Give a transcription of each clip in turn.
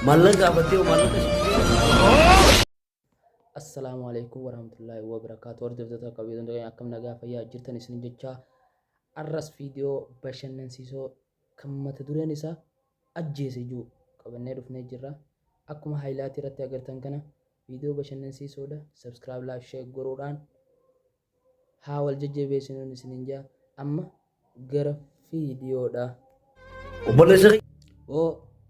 Mallaqa abatee mallaqa Assalaamu alaikum warahmatullahi wabarakatuh. Hordoftoota qabiyyee hundee akkam nagaa fayyaa jirtan isin jecha arras viidiyoo bashannansiisoo kan mata dureen isaa ajjeese jiru qabannee dhufnee jirra. Akkuma haayilaatii irratti agartan kana viidiyoo bashannansiisoodha. Subscribe, like, share godhuudhaan Haa wal jajjabeessinuun isiniin jaa amma gara fiidiyoodhaa. Obboleessa kiyya. Oo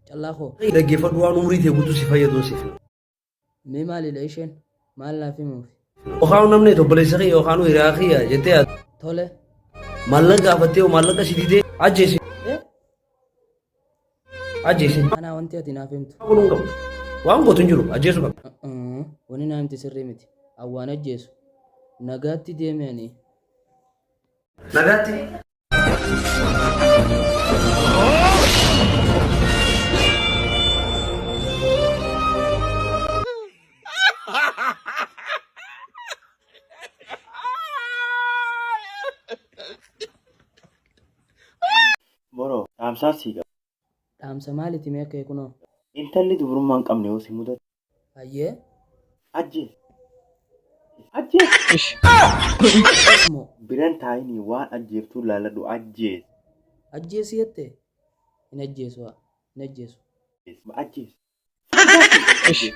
callaa koo. Dhaggeeffadhu waan umrii tee guutuu si fayyadun siif. Mee maalidha isheen maal naaf himuufi. Yookaan namni itti obboleessa kiyya yookaan hiriyaa kiyya jettee yaaddu. Tole. Maallaqa gaafattee yoo maallaqa si didee ajjeesi. Ajjeesin. Anaa wanti ati naaf himtu. Godhuu hin qabdu. Waan gootu hin jiru. Ajjeesuu qabda. Uh-uh. Wani naa himte sirrii miti. Awwaan ajjeesu. Nagaatti deeme ani. Nagaatti. Boro dhaamsaan sii qaba. Dhaamsa maaliti mee kee kunoo. Intalli dubrummaa hin qabne yoo si mudatte. Hayyee. Ajjeesi. Ajjeesi. Moo. Bira hin taa'inii waan ajjeeftuu laalladhu ajjeesi. Ajjeesi jette? Hin ajjeesu haa. Hin ajjeesu. Ajjeesi. Ajjeesi.